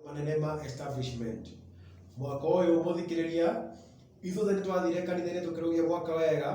manene ma establishment mwaka ũyũ mũthikĩrĩria ithuothe nĩ twathire kanitha-inĩ tũkĩrũgia mwaka wega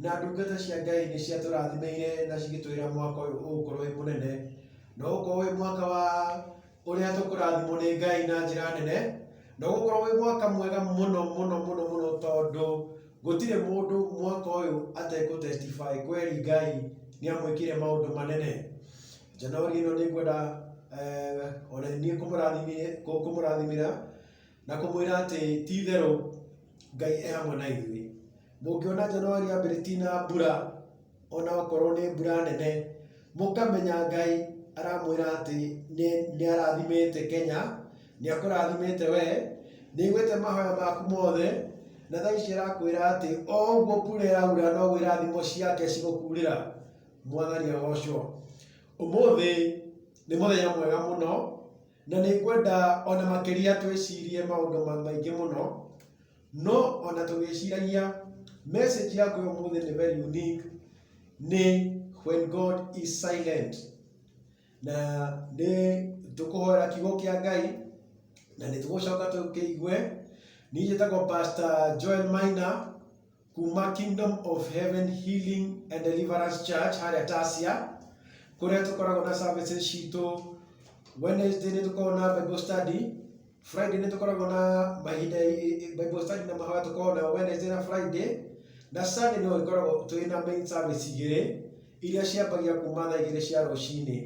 na ndungata cia ngai nĩ ciatũrathimeire na cigĩtwĩra mwaka ũyũ ũgũkorwo wĩ mũnene na ũgũkorwo wĩ mwaka wa ũrĩa tũkũrathimwo nĩ ngai na njĩra nene na ũgũkorwo wĩ mwaka mwega mũno mũno mũno mũno tondũ gũtirĩ mũndũ mwaka ũyũ atekũ testify kweri ngai nĩ amwĩkire maũndũ manene Januari ĩno nĩ ngwenda eh, ona niĩ kũmũrathimire- kũ- kũmũrathimĩra na kũmwĩra atĩ ti itherũ ngai e hamwe na ithuĩ mũngĩona januari yambĩrĩ ti na mbura ona okorwo nĩ mbura nene mũkamenya ngai aramwĩra atĩ nĩ- nĩ arathimĩte kenya nĩ akũrathimĩte we nĩ aiguĩte mahoya maku mothe na thaa ici arakwĩra atĩ o ũguo kura ĩraura noguo irathimo ciake cigũkurĩra Mwathani agocwo. Ũmũthĩ nĩ mũthenya mwega mũno, na nĩ ngwenda ona makĩria twĩcirie maũndũ ma- maingĩ mũno, no ona tũgĩciragia message yaku ya ũmũthĩ nĩ very unique, nĩ when God is silent. Na nĩ tũkũhoera kiugo kĩa Ngai, na nĩ tũgũcoka tũkĩigue. Niĩ njĩtagwo Pastor Joel Maina, kuma Kingdom of Heaven Healing and Deliverance Church harĩa Tasia kũrĩa tũkoragwo na services citũ Wednesday nĩ tũkoragwo na Bible study Friday nĩ tũkoragwo na mahinda Bible study na mahoya tũkoragwo na Wednesday na Friday na Sunday no ikoragwo twĩ na main service igĩrĩ iria ciambagia kuma thaa igĩrĩ cia rũcinĩ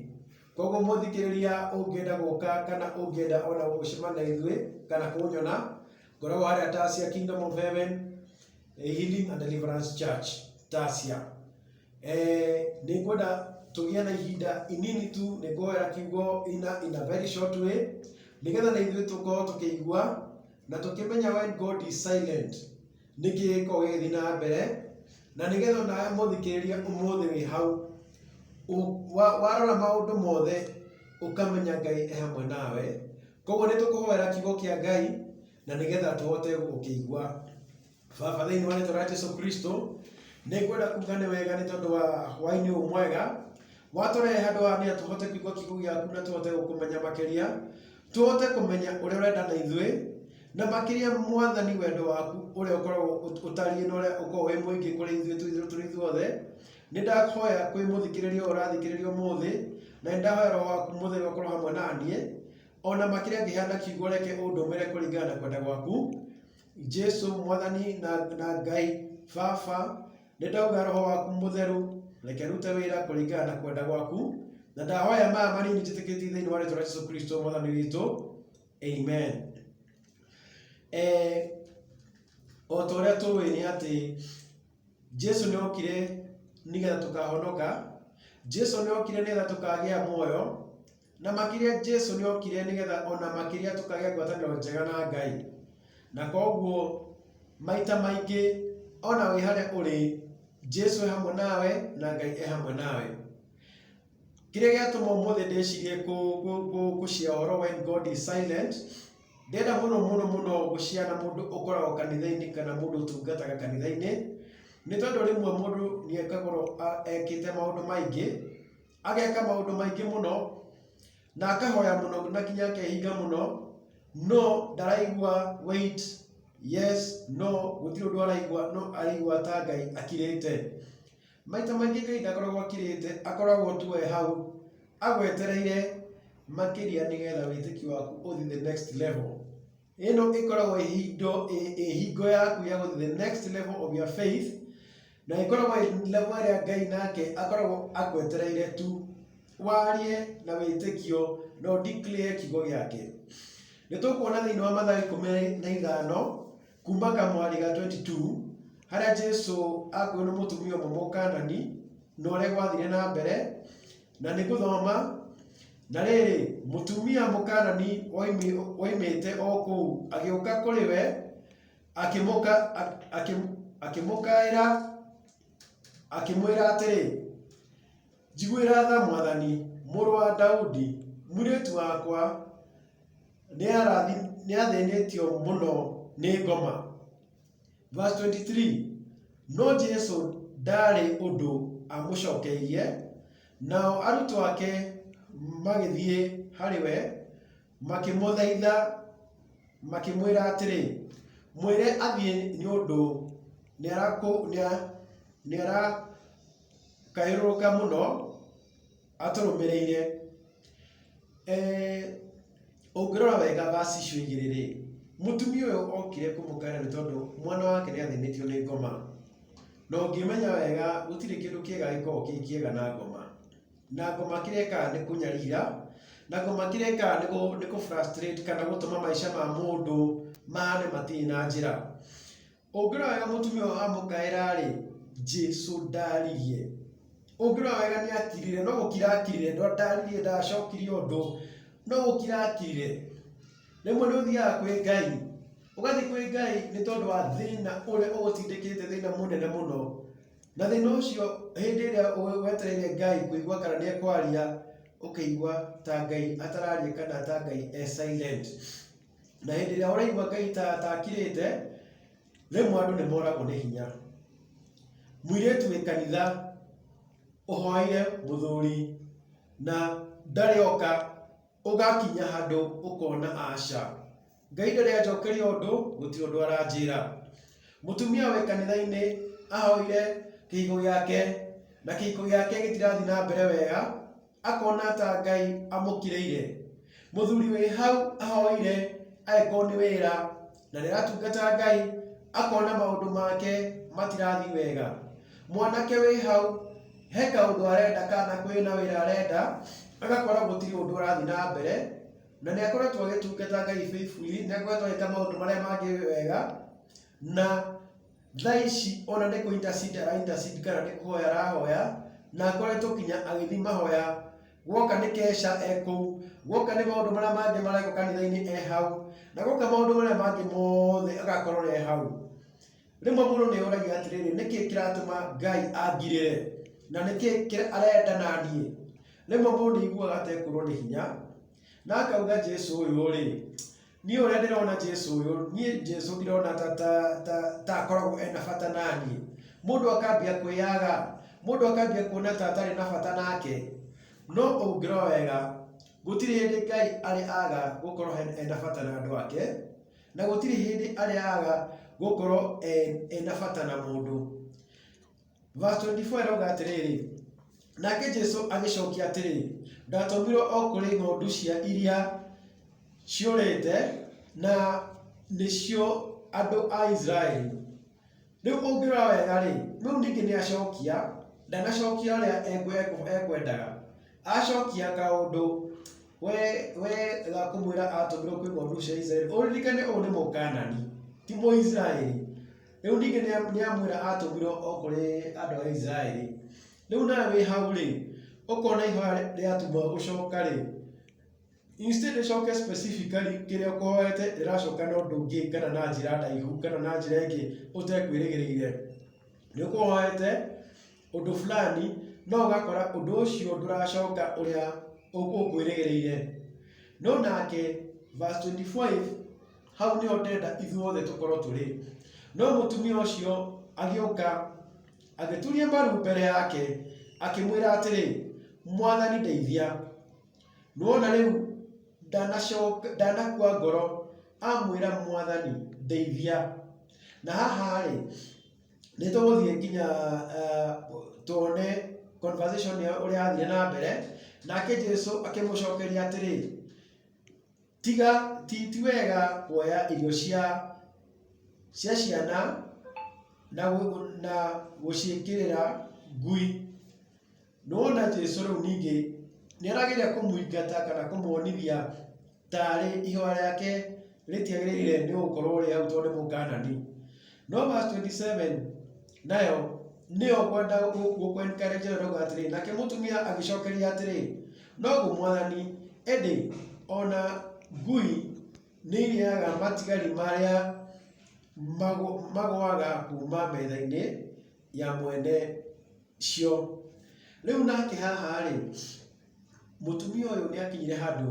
koguo mũthikĩrĩria ũngĩenda gũka kana ũngĩenda ona gũcemana na ithuĩ kana kũnyona ngoragwo harĩa tasia kingdom of heaven eh, healing and deliverance church tasia eh, nĩ ngwenda tũgĩe na ihinda inini tu nĩ ngũhoera kiugo ina in a very short way nĩgetha na ithuĩ tũkorwo tũkĩigua na tũkĩmenya when god is silent nĩkĩ gĩkorwo gĩgĩthiĩ na mbere na nĩgetha onawe mũthikĩrĩria ũmũthĩ wĩ hau Ũ- wa- warora maũndũ mothe ũkamenya ngai e hamwe nawe Koguo nĩ tũkũhoera kiugo kĩa Ngai na nĩgetha tũhote gũkĩigua. Baba, thĩinĩ wa rĩtwa rĩa Jesu Kristo, nĩ ngwenda kuga nĩ wega nĩ tondũ wa hwaĩ-inĩ ũyũ mwega watũrehe handũ haha nĩgetha tũhote kũigua kiugo gĩaku na tũhote gũkũmenya makĩria, tũhote kũmenya ũrĩa ũrenda na ithuĩ, na makĩria mwathani wendo waku ũrĩa ũkoragwo ũtariĩ na ũrĩa ũkoragwo wĩ mũingĩ kũrĩ ithuĩ tũi- tũrĩ ithuothe, Nĩ ndahoya kwĩ mũthikĩrĩria ũyũ ũrathikĩrĩria ũmũthĩ, na nĩ ndahoya roho waku mũtheru akorwo hamwe na niĩ, o na makĩria ngĩheana kiugo reke ũndũmĩre kũringana na kwenda gwaku. Jesu mwathani na, na Ngai Baba, nĩ ndauga roho waku mũtheru reke rute wĩra kũringana na kwenda gwaku, na ndahoya maya manini njĩtĩkĩtie thĩinĩ wa rĩtwa rĩa Jesu Kristo mwathani witũ. Amen. Eh, o ta ũrĩa tũĩ nĩ atĩ Jesu nĩ okire nĩgetha tũkahonoka, Jesu nĩ okire nĩgetha tũkagĩa muoyo, na makĩria Jesu nĩ okire nĩgetha ona makĩria tũkagĩa ngwatanĩro njega na Ngai. Na koguo maita maingĩ ona wĩ harĩa ũrĩ, Jesu e hamwe nawe na Ngai e hamwe nawe. Kĩrĩa gĩatũma ũmũthĩ ndĩcirie kũ- kũ- kũ- gũcia ũhoro when God is silent Ndĩrenda mũno mũno mũno gũciara mũndũ ũkoragwo kanitha-inĩ kana mũndũ ũtungataga kanitha-inĩ, nĩ tondũ rĩmwe mũndũ nĩ ekagwo ekĩte maũndũ maingĩ, ageka maũndũ maingĩ mũno, na akahoya mũno na nginya akehinga mũno, no ndaraigua weight, yes, no, gũtirĩ ũndũ araigua, no araigua ta Ngai akirĩte. Maita maingĩ Ngai ndakoragwo akirĩte, akoragwo tu e hau agwetereire makĩria nĩgetha wĩtĩkio waku ũthiĩ the next level. Ĩno ĩkoragwo ĩhindo ĩhingo yaku ya gũthiĩ the next level of your faith na ĩkoragwo level ĩrĩa Ngai nake akoragwo agwetereire tu warie na wĩtĩkio na ũdeclare kiugo gĩake. Nĩ tũkuona thĩinĩ wa Mathayo ikũmi na ithano Kuma kamwarĩ ga 22 harĩa Jesu akuo nĩ mũtumia ũmwe mũkanani na ũrĩa gwathire na mbere na nĩ gũthoma na rĩrĩ mũtumia mũkanani woimĩte o kũu agĩũka kũrĩ we akĩmũkaĩra akĩmwĩra atĩrĩ njiguĩra tha mwathani mũrũ wa Daudi mũirĩtu wakwa nĩathĩnĩtio mũno nĩ ngoma. Verse 23, no Jesu ndaarĩ ũndũ amũcokeirie, nao arutwo ake magĩthiĩ harĩ we, makĩmũthaitha, makĩmwĩra atĩrĩ, mwĩre athiĩ nĩ ũndũ nĩarakũ- nĩa- nĩarakayũrũrũka mũno. atũrũmĩrĩire eh, ũngĩrora wega verse icio igĩrĩ rĩ mũtumia ũyũ okire kũmũkaĩra nĩ tondũ mwana wake nĩ athĩnĩtio nĩ ngoma na ũngĩmenya wega gũtirĩ kĩndũ kĩega gĩkoragwo kĩ kĩega na ngoma na ngoma kĩrĩa ĩkaga nĩ kũnyarira na ngoma kĩrĩa ĩkaga nĩ kũ- nĩ kũ frustrate kana gũtũma maica ma mũndũ mahane matirĩ na njĩra Ũngĩrora wega mũtumia ũyũ amũkaĩra-rĩ, Jesũ ndaririe. Ũngĩrora wega nĩ akirire, no gũkira akirire, ndaririe ndacokire ũndũ, no gũkira akirire. Rĩmwe nĩ ũthiaga kwĩ Ngai, ũgathiĩ kwĩ Ngai nĩ tondũ wa thĩna ũrĩa ũgũtindĩkĩte thĩna mũnene mũno. Na thĩna ũcio hĩndĩ ĩrĩa wetereire Ngai kũigua kana nĩ ekwaria, ũkĩigua ta Ngai atararia kana ta Ngai e silent. Na hĩndĩ ĩrĩa ũraigua Ngai ta atakirĩte, rĩmwe andũ nĩ moragwo nĩ hinya. Mũirĩtu wĩ kanitha ũhoeire mũthuri na ndarĩ oka, ũgakinya handũ ũkona aca, Ngai ndarĩ anjokeria ũndũ, gũtirĩ ũndũ aranjĩra. Mũtumia wĩ kanitha-inĩ ahoire kĩhiko gĩake na kĩhiko gĩake gĩtirathiĩ na mbere wega. akona ta Ngai amũkĩrĩire. Mũthuri wĩ hau ahoire angĩkorwo nĩ wĩra na nĩ aratungata Ngai, akona maũndũ make matirathiĩ wega. Mwanake wĩ hau he kaũndũ arenda kana kwĩ na wĩra arenda, agakora gũtirĩ ũndũ ũrathiĩ na mbere, na nĩ akoretwo agĩtungata Ngai faithfully, nĩ akoretwo agĩka maũndũ marĩa mangĩ wega, na Thaa ici ona nĩ kũ intercede ara intercede kana nĩ kũhoya arahoya, na akoretwo nginya agĩthiĩ mahoya. Guoka nĩ Kesha e kũu, guoka nĩ maũndũ marĩa mangĩ marekwo kanitha-inĩ e hau, na guoka maũndũ marĩa mangĩ mothe agakorwo e hau. Rĩmwe mũndũ nĩ eyũragia atĩrĩrĩ, nĩ kĩĩ kĩratũma Ngai angirĩre? Na nĩ kĩĩ kĩ- arenda na niĩ? Rĩmwe mũndũ nĩ aiguaga atekũrwo nĩ hinya, na akauga Jesu ũyũ-rĩ, niĩ ũrĩa ndĩrona jesu ũyũ niĩ jesu ndirona ta ta ta ta akoragwo ena bata naniĩ mũndũ akambia kwĩyaga mũndũ akambia kuona ta atarĩ na bata nake no ũngĩrora wega gũtirĩ hĩndĩ ngai arĩ aga gũkorwo he- ena bata na andũ ake na gũtirĩ hĩndĩ arĩ aga gũkorwo e- ena bata na mũndũ Verse 24 ĩrauga atĩrĩrĩ nake jesu agĩcokia atĩrĩ ndatũmirwo o kũrĩ ng'ondu cia iria ciũrĩte na nĩcio andũ a isiraeli rĩu ũngĩrora wega rĩ rĩu ningĩ nĩ acokia ndanacokia ũrĩa ekwe- ekwe- ekwendaga acokia kaũndũ we we ga kũmwĩra atũmirwo kwĩ ng'ondu cia isiraeli ũririkane ũũ nĩ mũkanani ti mũisiraeli Rĩu ningĩ nĩa- nĩamwĩra atũmirwo o kũrĩ andũ a Isiraeli. Rĩu nawe wĩ hau-rĩ, ũkona ihoya rĩ- rĩatumwo gũcoka-rĩ, instead rĩcoke specifically kĩrĩa ũkũhoete rĩracoka na ũndũ ũngĩ kana na njĩra ndaihu kana na njĩra ĩngĩ ũtekwĩrĩgĩrĩire. Nĩũkũhoete ũndũ fulani no ũgakora ũndũ ũcio ndũracoka ũrĩa ũ- ũkwĩrĩgĩrĩire. No nake verse 25 hau nĩho ndenda ithuothe tũkorwo tũrĩ no mũtumia ũcio agĩũka agĩturia mbaru mbere yake akĩmwĩra atĩrĩ mwathani ndeithia nuona rĩu ndanacoka ndanakua ngoro amwĩra mwathani ndeithia na haha-rĩ nĩ tũgũthiĩ nginya eh, tuone conversation ya ũrĩa yathire na mbere nake jesu akĩmũcokeria atĩrĩ Tiga ti ti wega kuoya irio cia cia ciana na na gũciĩkĩrĩra ngui. Nĩwona Jesũ rĩu ningĩ nĩarageria kũmũingata kana kũmuonithia tarĩ ihooya rĩake rĩtiagĩrĩire nĩgũkorwo rĩ hau tondũ nĩ Mũkanani. No verse 27 nayo nĩyo kwenda gũkwentere Jehova atĩrĩ nake mũtumia agĩcokeria atĩrĩ noguo mwathani ĩndĩ ona ngui nĩ irĩaga matigari marĩa magũ- magũaga kuma metha-inĩ ya mwene cio rĩu nake haha rĩ mũtumia ũyũ nĩ akinyire handũ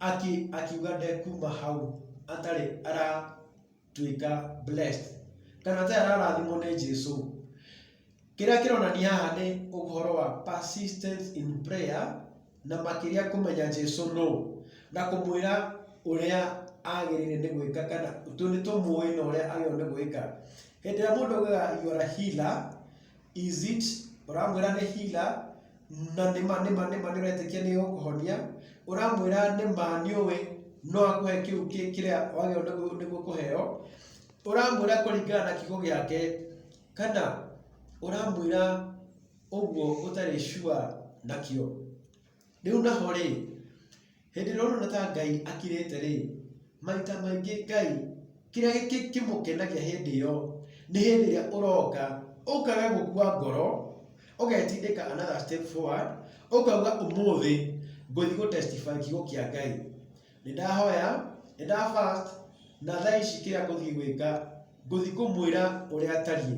aki- akiuga ndekuma hau atarĩ ara tuĩka blessed kana ta ararathimwo nĩ Jesu kĩrĩa kĩronania haha nĩ ũhoro wa persistence in prayer na makĩria kũmenya Jesu no na kũmwĩra ũrĩa agĩrĩire nĩ gwĩka kana tũ nĩ tũmũĩ na ũrĩa agĩrĩirwo nĩ gwĩka hĩndĩ ĩrĩa mũndũ augaga you are a healer is it ũramwĩra nĩ hila na nĩma nĩma nĩma nĩũretĩkia nĩ ũkũhonia ũramwĩra nĩma nĩũĩ no akũhe kĩu kĩ- kĩrĩa wagĩrĩirwo nĩguo nĩguo kũheo ũramwĩra kũringana na kiugo gĩake kana ũramwĩra ũguo ũtarĩ sure nakĩo rĩu naho rĩ Hĩndĩ ĩrĩa ũrona ta Ngai akirĩte rĩ, maita maingĩ Ngai kĩrĩa kĩmũkenagia hĩndĩ ĩyo nĩ hĩndĩ ĩrĩa ũroka ũkaga gũkua ngoro ũgetindĩka another step forward ũkauga ũmũthĩ ngũthiĩ gũ testify kiugo kĩa Ngai. Nĩ ndahoya, nĩ nda fast na thaa ici kĩrĩa ngũthiĩ gwĩka Ngũthiĩ kũmwĩra ũrĩa atariĩ.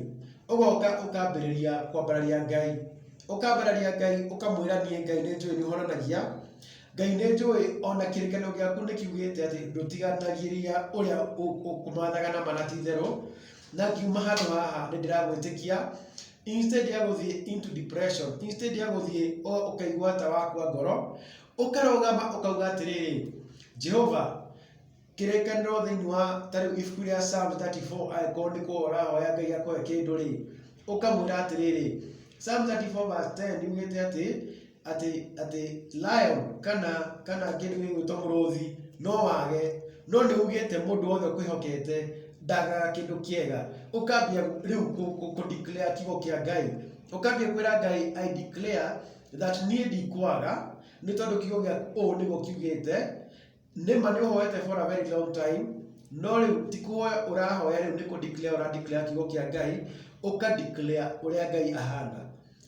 Ũgoka ũkambĩrĩria kwambararia Ngai. Ũkambararia Ngai ũkamwĩra niĩ Ngai nĩ njũĩ nĩ ũhonanagia. Ngai nĩ njũĩ ona kĩrĩkanĩro gĩaku nĩ kiugĩte atĩ ndũtiganagĩria ũrĩa ũkũmathaga na mana ti itherũ. Na ngiuma handũ haha nĩ ndĩragwĩtĩkia. Instead ya gũthiĩ into depression, instead ya gũthiĩ ũkaigua ta wakua ngoro, ũkarũgama ũkauga atĩrĩrĩ, Jehova, kĩrĩkanĩro thĩinĩ wa tarĩu ibuku rĩa Psalm 34 angĩkorwo nĩ kũhoya ũrahoya Ngai akũhe kĩndũ rĩ ũkamwĩra atĩrĩrĩ Psalm 34 verse 10 yugĩte atĩ atĩ atĩ lion kana kana kĩndũ gĩgwĩtwo mũrũthi no wage no nĩ ugĩte mũndũ wothe ũkwĩhokete ndagaga kĩndũ kĩega ũkambia rĩu kũ- kũ- kũ declare kiugo kĩa Ngai ũkambia kwĩra Ngai I declare that niĩ ndikwaga nĩ tondũ kiugo gĩaku ũũ nĩguo kiugĩte Nĩma nĩ ũhoete for a very long time no rĩu ti kũhoya ũrahoya rĩu nĩ kũ declare ũra declare kiugo kĩa Ngai ũka declare ũrĩa Ngai ahana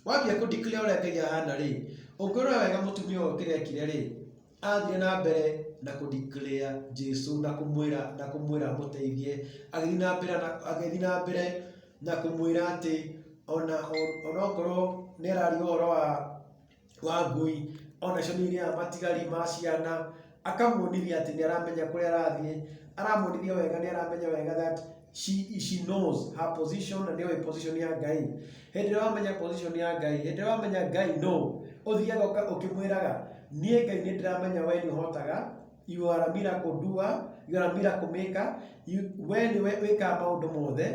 wambia kũ declare ũrĩa Ngai ahana rĩ ũngĩrora wega mũtumia ũyũ kĩrĩa ekire rĩ athire na mbere na kũ declare Jesu na kũmwĩra na kũmwĩra mũteithie agĩthiĩ na mbere na agĩthiĩ na mbere na kũmwĩra atĩ ona onokorwo nĩ araria ũhoro wa wa ngui, ona cio nĩ irĩaga matigari ma ciana, akamuonithia atĩ nĩ aramenya kũrĩa arathiĩ, aramuonithia wega nĩ aramenya wega that she she knows her position na nĩ oĩ position ya Ngai. Hĩndĩ ĩrĩa wamenya position ya Ngai, hĩndĩ ĩrĩa wamenya Ngai nũ, ũthiaga ũkĩmwĩraga, niĩ Ngai nĩ ndĩramenya wee nĩ ũhotaga. You are a miracle doer, you are a miracle maker, you, we nĩwe wĩkaga maũndũ mothe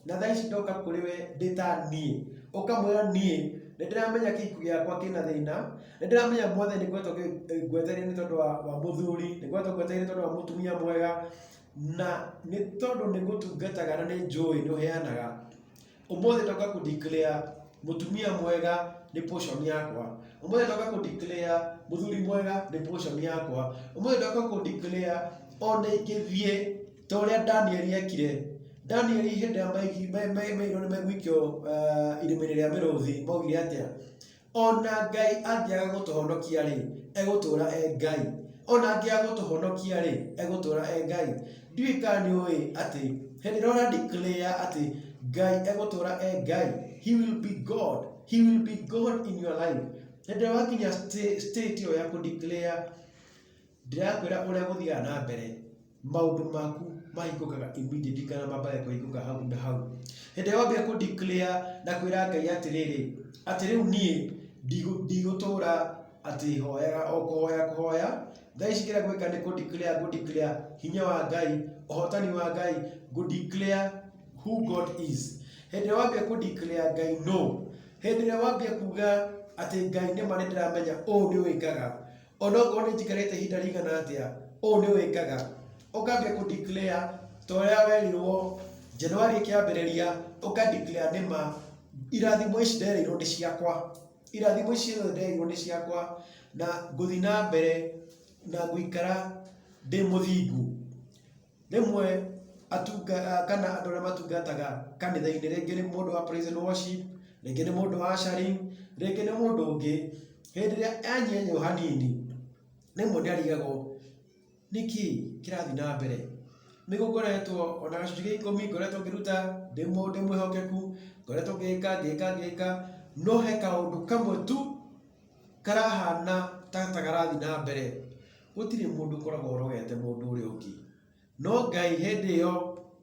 na thaa ici ndoka kũrĩ we ndĩ ta niĩ ũkamwĩra niĩ nĩ ndĩramenya kĩku gĩakwa kĩna thĩna nĩ ndĩramenya mothe nĩ ngoretwo ngwetereire nĩ tondũ wa wa mũthuri nĩ ngoretwo ngwetereire nĩ tondũ wa mũtumia mwega na nĩ tondũ nĩ ngũtungataga na nĩ njũĩ nĩ ũheanaga Ũmũthĩ ndoka kũ declare mũtumia mwega nĩ portion yakwa. Ũmũthĩ ndoka kũ declare mũthuri mwega nĩ portion yakwa. Ũmũthĩ ndoka kũ declare ona ingĩthiĩ ta ũrĩa Daniel ekire. Daniel hĩndĩ ĩrĩa maigirwo nĩ megũikio irima-inĩ rĩa mĩrũthi maugire atĩa? Ona Ngai angĩaga gũtũhonokia-rĩ, egũtũũra e Ngai. Ona angĩaga gũtũhonokia-rĩ, egũtũũra e Ngai. Ndiũĩ kana nĩ ũĩ atĩ hĩndĩ ĩrĩa ũra declare atĩ Ngai egũtũũra e Ngai, he will be God, he will be God in your life. Hĩndĩ ĩrĩa wakinya sta- state ĩyo ya kũ declare ndĩrakwĩra ũrĩa gũthiaga na mbere maũndũ maku mahingũkaga immediately kana mambage kũhingũka hau na hau hĩndĩ ĩrĩa wambia kũ declare na kwĩra ngai atĩrĩrĩ atĩ rĩu niĩ ndigũ- ndigũtũra atĩ hoyaga o kũhoya kũhoya thaa ici kĩrĩa gwĩka nĩ kũ declare ngũ declare hinya wa ngai ũhotani wa ngai ngũ declare who god is hĩndĩ ĩrĩa wambia kũ declare ngai no hĩndĩ ĩrĩa wambia kuga atĩ ngai nĩ ma nĩ ndĩramenya ũũ nĩ wĩkaga onokorwo nĩ njikarĩte ihinda rĩigana atĩa, ũũ nĩ wĩkaga, ũkambia kũ declare ta ũrĩa werirwo January ĩkĩambĩrĩria, ũka declare nĩ ma, irathimo ici nderĩirwo nĩ ciakwa, irathimo ici ciothe nderĩirwo nĩ ciakwa, na ngũthiĩ na mbere na gũikara ndĩ mũthingu. Rĩmwe atunga, kana andũ arĩa matungataga kanitha-inĩ, rĩngĩ nĩ mũndũ wa praise and worship, rĩngĩ nĩ mũndũ wa ushering, rĩngĩ nĩ mũndũ ũngĩ, hĩndĩ ĩrĩa anyenywo hanini, rĩmwe nĩ arigagwo nĩkĩ kĩrathiĩ na mbere. Nĩ gũkoretwo ona gĩcunjĩ gĩa ikũmi ngoretwo ngĩruta ndĩ mũ, ndĩ mwĩhokeku, ngoretwo ngĩka, ngĩka, ngĩka, no he kaũndũ kamwe tu, karahana ta ta karathiĩ na mbere, gũtirĩ mũndũ ũkoragwo ũrogete mũndũ ũrĩa ũngĩ. No Ngai hĩndĩ ĩyo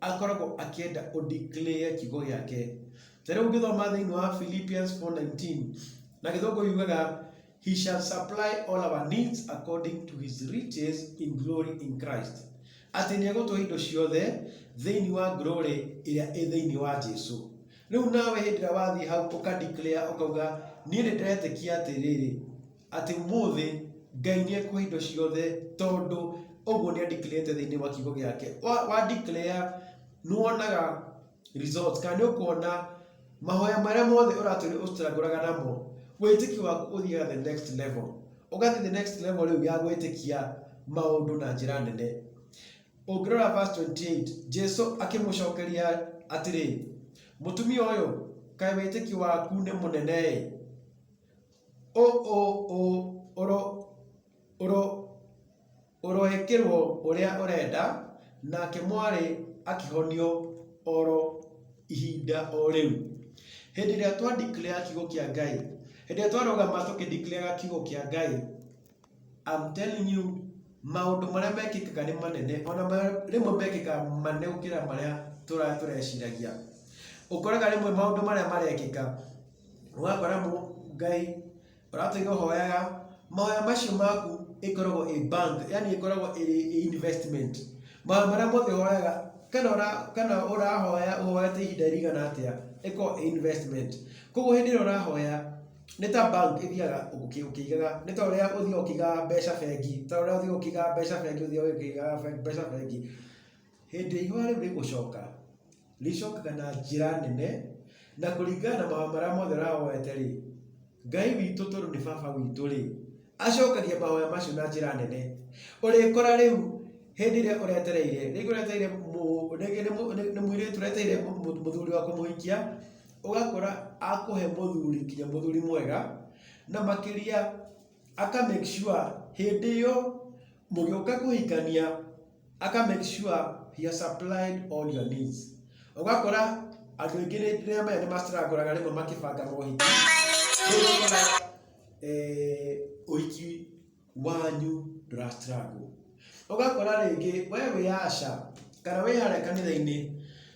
akoragwo akĩenda ũ declare kiugo gĩake. Ta rĩu ũngĩthoma thĩinĩ wa Philippians 4:19, na gĩthũngũ yugaga, He shall supply all our needs according to his riches in glory in Christ. Atĩ nĩ egũtũhe indo ciothe thĩinĩ wa glory ĩrĩa ĩ thĩinĩ wa Jesu. Rĩu nawe hĩndĩ ĩrĩa wathiĩ hau ũka declare ũkauga niĩ nĩ ndĩretĩkia atĩrĩrĩ atĩ ũmũthĩ Ngai nĩ ekũhe indo ciothe tondũ ũguo nĩ andeclarete thĩinĩ wa kiugo gĩake. Wa, wa declare nĩ wonaga results kana nĩ ũkuona mahoya marĩa mothe ũratũire ũcitangũraga namo wĩtĩkio waku ũthiaga the next level. Ũgathiĩ the next level rĩu ya gwĩtĩkia maũndũ na njĩra nene. Ũngĩrora verse 28, Jesu akĩmũcokeria atĩrĩ, Mũtumia ũyũ, kaĩ wĩtĩkio waku nĩ mũnene-ĩ! Ũ ũ ũ ũro ũro ũroĩkĩrwo ũrĩa ũrenda, nake mwarĩ akĩhonio oro ihinda o rĩu. Hĩndĩ ĩrĩa twa declare kiugo kĩa Ngai, hĩndĩ ĩrĩa twarũgama tũkĩ declare kiugo kĩa Ngai, I'm telling you, maũndũ marĩa mekĩkaga nĩ manene, ona marĩa- rĩmwe mekĩkaga manene gũkĩra marĩa tũra- tũreciragia. Ũkoraga rĩmwe maũndũ marĩa marekĩka, ũgakora mũ- Ngai ũratũiga ũhoyaga, mahoya macio maku ĩkoragwo ĩ bank, yani ĩkoragwo ĩrĩ ĩ investment. Mahoya marĩa mothe ũhoyaga, kana ũra- kana ũrahoya ũhoyete ihinda rĩigana atĩa, ĩkoragwo ĩ investment. Koguo hĩndĩ ĩrĩa ũrahoya, nĩ ta bank ĩthiaga ũkĩ- ũkĩigaga nĩ ta ũrĩa ũthiaga ũkĩigaga mbeca bengi ta ũrĩa ũthiaga ũkĩigaga mbeca bengi ũthiaga ũkĩigaga be- mbeca bengi hĩndĩ ĩrĩa ihũa rĩu rĩgũcoka rĩcokaga na njĩra nene na kũringana na mahoya marĩa mothe ũrahoete rĩ ngai witũ tondũ nĩ baba witũ rĩ acokagia mahoya macio na njĩra nene ũrĩkora rĩu hĩndĩ ĩrĩa ũretereire rĩngĩ ũretereire mũ- rĩngĩ nĩ mũ- nĩ- nĩ mũirĩtu ũretereire mũ- mũ- mũthuri wa kũmũhikia ũgakora akũhe mũthuri nginya mũthuri mwega na makĩria aka make sure hĩndĩ ĩyo mũgĩũka kũhikania aka make sure he has supplied all your needs. Ũgakora andũ aingĩ rĩrĩa maya nĩ mastrangũraga rĩmwe makĩbanga mohiki rĩu ũgakora eh, ũhiki wanyu ndũrastrangwo ũgakora rĩngĩ we wĩ aca kana wĩ harĩa kanitha-inĩ